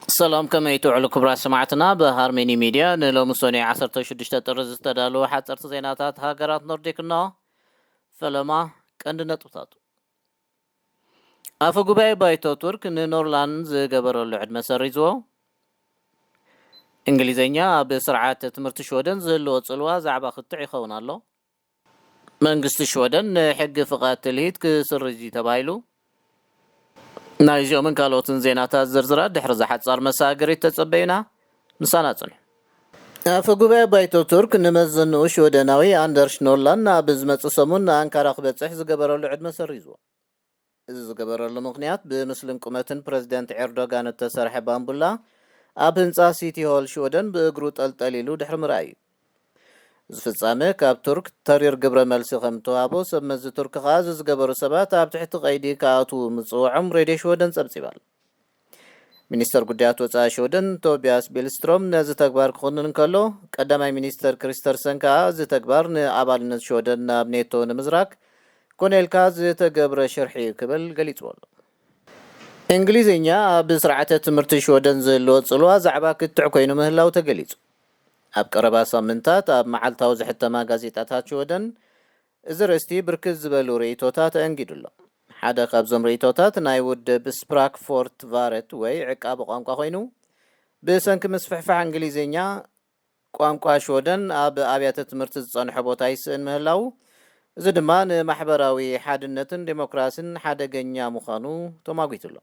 ሰላም ከመይ ትውዕሉ ክብራት ሰማዕትና ብ ሃርሜኒ ሚድያ ን ሎሚ ሰኑይ ዓሰርተ ሽዱሽተ ጥሪ ዝተዳለዉ ሓጸርቲ ዜናታት ሃገራት ኖርዲክ እነሆ ፈለማ ቀንዲ ነጥብታቱ ኣፈ ጉባኤ ባይቶ ቱርክ ን ኖርላን ዝገበረሉ ዕድመ ሰሪዝዎ እንግሊዘኛ ኣብ ስርዓት ትምህርቲ ሽወደን ዝህልዎ ጽልዋ ዛዕባ ክትዕ ይኸውን ኣሎ መንግስቲ ሽወደን ንሕጊ ፍቓድ ትልሂት ክስርዝ እዩ ተባሂሉ። ናይዚኦምን ካልኦትን ዜናታት ዝርዝራት ድሕሪ'ዛ ሓጻር መሰጋገሪት ተጸበዩና። ምሳና ጽንሑ። ኣፈ ጉባኤ ባይቶ ቱርክ ንመዘንኡ ሽወደናዊ ኣንደርሽ ኖርላንድ ኣብ ዝመጽእ ሰሙን ንኣንካራ ክበጽሕ ዝገበረሉ ዕድመ ሰሪዝዎ። እዚ ዝገበረሉ ምኽንያት ብምስልን ቁመትን ፕረዚደንት ኤርዶጋን እተሰርሐ ባምቡላ ኣብ ህንጻ ሲቲ ሆል ሽወደን ብእግሩ ጠልጠል ኢሉ ድሕሪ ምርኣይ እዩ። እዚ ፍጻመ ካብ ቱርክ ተሪር ግብረ መልሲ ከም እተዋህቦ ሰብ መዚ ቱርኪ ከኣ እዚ ዝገበሩ ሰባት ኣብ ትሕቲ ቀይዲ ክኣትዉ ምጽውዖም ሬድዮ ሽወደን ጸብጺባ'ላ። ሚኒስተር ጉዳያት ወጻኢ ሽወደን ቶብያስ ቢልስትሮም ነዚ ተግባር ክኹንን እንከሎ፣ ቀዳማይ ሚኒስተር ክሪስተርሰን ከኣ እዚ ተግባር ንኣባልነት ሽወደን ናብ ኔቶ ንምዝራግ ኮነ ኢልካ ዝተገብረ ሽርሒ'ዩ ክብል ገሊጽዎ ኣሎ። እንግሊዝኛ ኣብ ስርዓተ ትምህርቲ ሽወደን ዝህልዎ ጽልዋ ዛዕባ ክትዕ ኮይኑ ምህላው ተገሊጹ። ኣብ ቀረባ ሳምንታት ኣብ መዓልታዊ ዝሕተማ ጋዜጣታት ሽወደን እዚ ርእስቲ ብርክት ዝበሉ ርእይቶታት ኣእንጊዱ ኣሎ። ሓደ ካብዞም ርእይቶታት ናይ ውድብ ስፕራክፎርትቫረት ወይ ዕቃበ ቋንቋ ኮይኑ፣ ብሰንኪ ምስፍሕፋሕ እንግሊዝኛ፣ ቋንቋ ሽወደን ኣብ ኣብያተ ትምህርቲ ዝጸንሖ ቦታ ይስእን ምህላዉ፣ እዚ ድማ ንማሕበራዊ ሓድነትን ደሞክራሲን ሓደገኛ ምዃኑ ተሟጒቱ ኣሎ።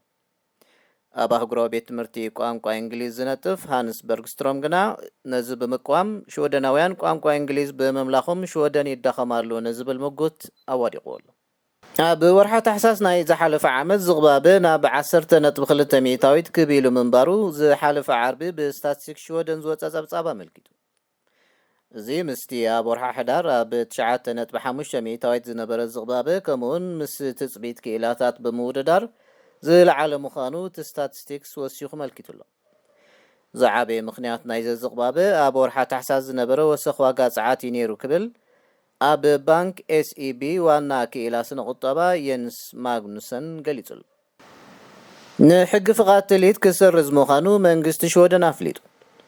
ኣብ ኣህጉራዊ ቤት ትምህርቲ ቋንቋ እንግሊዝ ዝነጥፍ ሃንስ በርግስትሮም ግና ነዚ ብምቅዋም ሽወደናውያን ቋንቋ እንግሊዝ ብምምላኾም ሽወደን ይዳኸማሉ ንዝብል ምጉት ኣዋዲቕዎ ኣሎ። ኣብ ወርሓ ታሕሳስ ናይ ዝሓለፈ ዓመት ዝቕባበ ናብ ዓሰርተ ነጥቢ ክልተ ሚእታዊት ክብ ኢሉ ምንባሩ ዝሓለፈ ዓርቢ ብስታትስቲክስ ሽወደን ዝወጸ ጸብጻብ ኣመልኪቱ። እዚ ምስቲ ኣብ ወርሓ ሕዳር ኣብ ትሽዓተ ነጥቢ ሓሙሽተ ሚእታዊት ዝነበረ ዝቕባበ ከምኡ'ውን ምስ ትጽቢት ክኢላታት ብምውድዳር ዝለዓለ ምዃኑ እቲ ስታትስቲክስ ወሲኹ መልኪቱ'ሎ። ዝዓበየ ምኽንያት ናይዘ ዝቕባበ ኣብ ወርሓ ታሕሳስ ዝነበረ ወሰኽ ዋጋ ጸዓት'ዩ ነይሩ ክብል ኣብ ባንክ ኤስኢቢ ዋና ክኢላ ስነ-ቁጠባ የንስ ማግኑሰን ገሊጹ። ንሕጊ ፍቓድ ትልሂት ክስርዝ ምዃኑ መንግስቲ ሽወደን ኣፍሊጡ።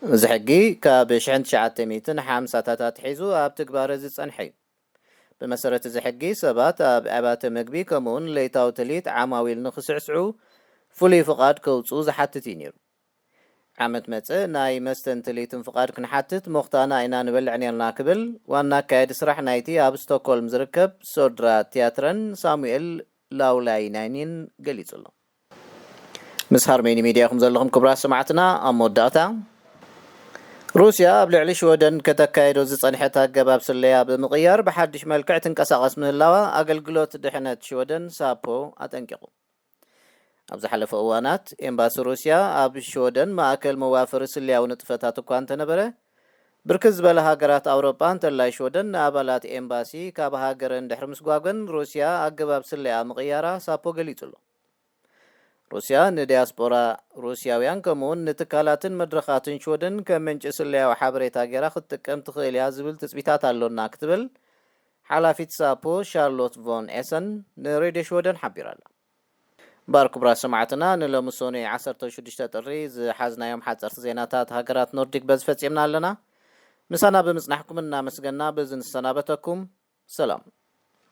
እዚ ሕጊ ካብ ሽሕን ትሽዓተ ሚእትን ሓምሳታት ኣትሒዙ ኣብ ትግባረ ዝጸንሐ'ዩ። ብመሰረት እዚ ሕጊ፣ ሰባት ኣብ ኣብያተ መግቢ ከምኡ'ውን ለይታዊ ትልሂት ዓማዊል ንኽስዕስዑ ፍሉይ ፍቓድ ከውጽኡ ዝሓትት'ዩ ነይሩ። ዓመት መጸ ናይ መስተን ትልሂትን ፍቓድ ክንሓትት ሞኽታና ኢና ንበልዕ ኔርና ክብል ዋና ኣካያዲ ስራሕ ናይቲ ኣብ ስቶኮልም ዝርከብ ሶድራ ትያትረን ሳሙኤል ላውላይናይኒን ገሊጹ ኣሎ። ምስ ሃርሜኒ ሚድያ ኢኹም ዘለኹም ክቡራት ሰማዕትና ኣብ መወዳእታ ሩስያ ኣብ ልዕሊ ሽወደን ከተካየዶ ዝጸንሐት ኣገባብ ስለያ ብምቕያር ብሓድሽ መልክዕ ትንቀሳቐስ ምህላዋ ኣገልግሎት ድሕነት ሽወደን ሳፖ ኣጠንቂቑ። ኣብ ዝሓለፈ እዋናት፣ ኤምባሲ ሩስያ ኣብ ሽወደን ማእከል መዋፈሪ ስለያዊ ንጥፈታት እኳ እንተነበረ፣ ብርክት ዝበላ ሃገራት ኣውሮጳ እንተላይ ሽወደን ንኣባላት ኤምባሲ ካብ ሃገረን ድሕሪ ምስጓገን ሩስያ ኣገባብ ስለያኣ ምቕያራ ሳፖ ገሊጹ ኣሎ። ሩስያ ንድያስጶራ ሩስያውያን ከምኡ'ውን ንትካላትን መድረኻትን ሽወደን ከም ምንጪ ስለያዊ ሓበሬታ ገይራ ክትጥቀም ትኽእል እያ ዝብል ትጽቢታት ኣሎና ክትብል ሓላፊት ሳፖ ሻርሎት ቮን ኤሰን ንሬድዮ ሽወደን ሓቢራ'ላ። እምበኣር ክቡራት ሰማዕትና ንሎሚ ሶኑይ ዓሰርተ ሽዱሽተ ጥሪ ዝሓዝናዮም ሓጸርቲ ዜናታት ሃገራት ኖርዲክ በዚ ፈጺምና ኣለና። ምሳና ብምጽናሕኩም እናመስገና በዚ ንሰናበተኩም። ሰላም።